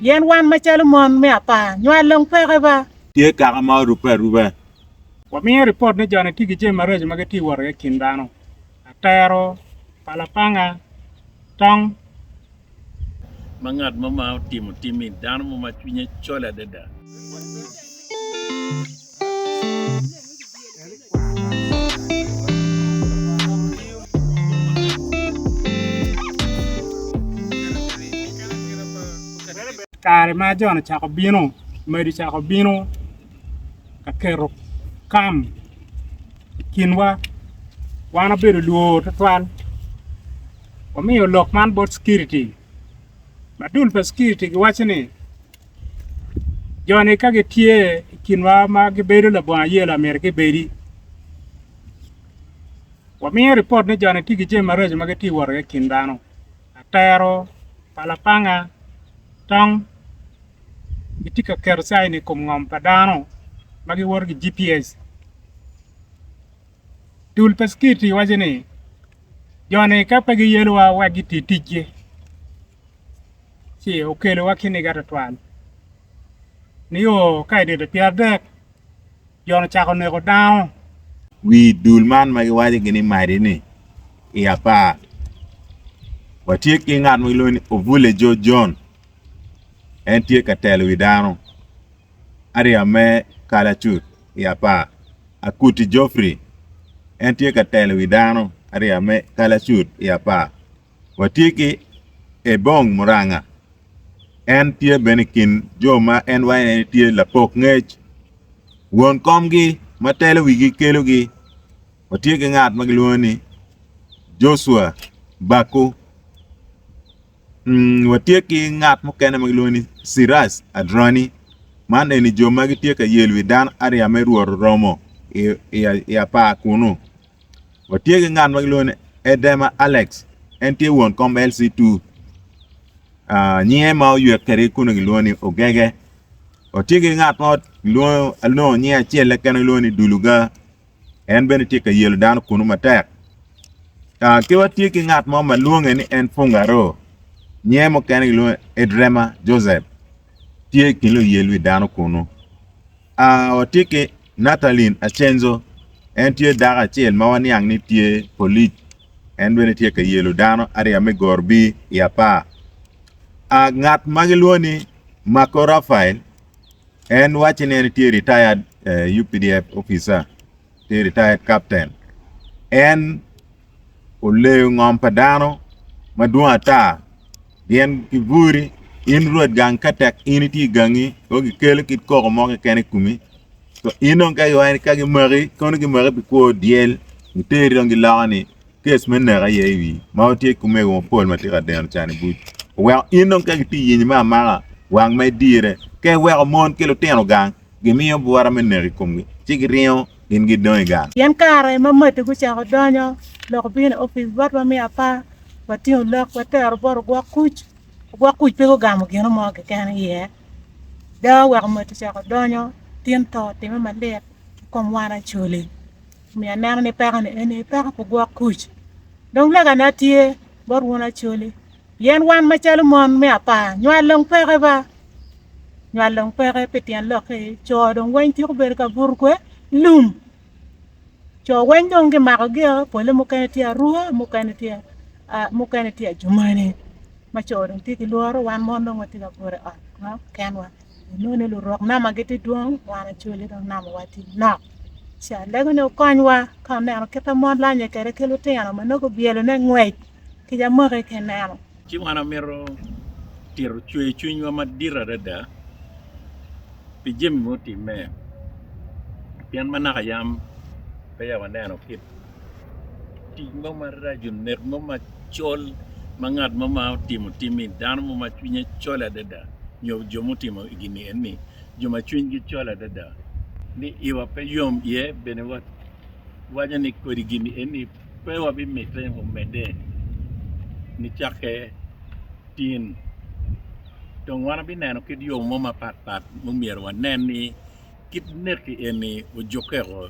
Pien wan macalo mon me apar nywal dong peke ba. Tye kaka ma orubbe aruba. Wamiyo ripot ni joni tye ki jami maraco ma gitye wot iye i kin dano, atero, palapanga, tong, ma ngat mo ma otimo timmi, dano mo ma cwinye col adada. Kare ma Jon ocako bino, madi ocako bino ka keto kam i kinwa. Wan obedo lwor tutwal. omiyo lok man bot Security. Madul pa Security giwaco ni, Jo-ni ka gitye i kinwa ma gibedo labongo ayela myero gibedi. Wamiyo ripot ni jo-ni tye ki jami maraco ma gitye wot iye i kin dano, atero, palapanga, tong. Gitye ka keto caini i kom ngom pa dano ma giwoto ki GPS. Dul pa Skiti waco ni, Jo-ni ka pe giyelowa wek giti ticgi, ci okelowa kiniga twatwal. Nio ka i dite pyeradek, jo-ni ocako neko dano. Wi dul man ma giwaco ki ni Madi ni, I apar, watye ki ngat ma gilwongo ni Ovule Joe John. En tye ka telo wi dano. ariya me kalacut i apar, akuti Geoffrey, en tye ka telo wi dano ariya me kalacut i apar. Watye ki Ebong Muranga, en tye bene i kin jo ma en waene ni tye lapok ngec, won komgi ma telo wigi kelogi. Watye ki ngat ma gilwongo ni Joshua Baku, Watye ki ngat mukene ma gilwongo ni Siraj Adrani, man eni jo ma gitye ka yel wi dano ariya me Rwot oromo i apar kunnu. Watye ki ngat ma gilwongo ni Edema Alex, en tye won kom LC2. Nyinge ma oywe kwede kunu gilwongo ni Ogege. Watye ki ngat mo gilwongo alongo nyinge acel-le kene gilwongo ni Duluga. en bene tye ka yelo dano kunu matek. Ki watye ki ngat mo ma lwonge ni en Fungaro, nyer mukene gilwonge Edrema Joseph, tye i kin luyel wi dano kunu. Watye ki Nathaline Acenzo, en tye dako acel ma waniang ni tye polic, en bene tye ka yelo dano ariya me Gorbi i apar. Ngat ma gilwongo ni Marco Rafael, En wacce ni en tye retired UPDF officer, tye retired captain. En oleyo ngom pa dano madwong ata gin ki buri in rwed gang ka tek in itye i gangi dong ikelo kit koko mo keken i komi in dong ka gimaki kono gimaki pi kwo dyel giteri dong giloko ni kes me nek aye i wi ma watye ki omego mapol ma tye ka deno can i buc oweko in dong ka gitye yenyi me amaka wang ma idire ka iweko mon ki lutino gang gimiyo bwura me nek i komgi ci giringo gin gidong i gang. Pien kare ma matti gucako donyo lok obino i opic bot wa me apar watingo lok watero bot ogwok kuc, ogwok kuc pe gugamo gino mo keken i iye dawe oweko matti ocako donyo tin to otimme malit i kom wan Acholi. Omiyo aneno ni pekoni eni peko pu gwok kuc. Dong legane atye bot wun Acholi, pien wan macalo mon me apar, nywal dong peke ba. Nywal dong peke pi tyen lok-ki, co dong weng tyeko bedo ka buto kwe lum. Co weng dong gimako gio, pole mukene tye aruka, mukene tye mukene tye ajumane. Ma co dong tye ki lworo, wan mon dong watye ka buto i ot ma kenwa. Inongo ni lurok nama gitye dwong, wan ocoli dong namawa tye nok. Ci alego ni wukonywa ka wuneno kit ma mon lanye kwede ki lutino ma nongo gubyelo me ngwec kica mwaki ka ineno. Ci wan amito tito cwercwinywa madit adada pi jami ma otimme pien ma naka yam peya waneno kit. tic mo maraco nek mo macol ma ngat mo ma otimo tim ni dano mo ma cwinye col adada nyo jo mutimo gini eni jo ma cwinygi col adada ni iwa pe yom iye bene waco ni kodi gini eni pe wabimite omedde nicakke tin dong wan wabineno kit yo mo mapat pat ma omyero wanen ni kit neki eni ojukeko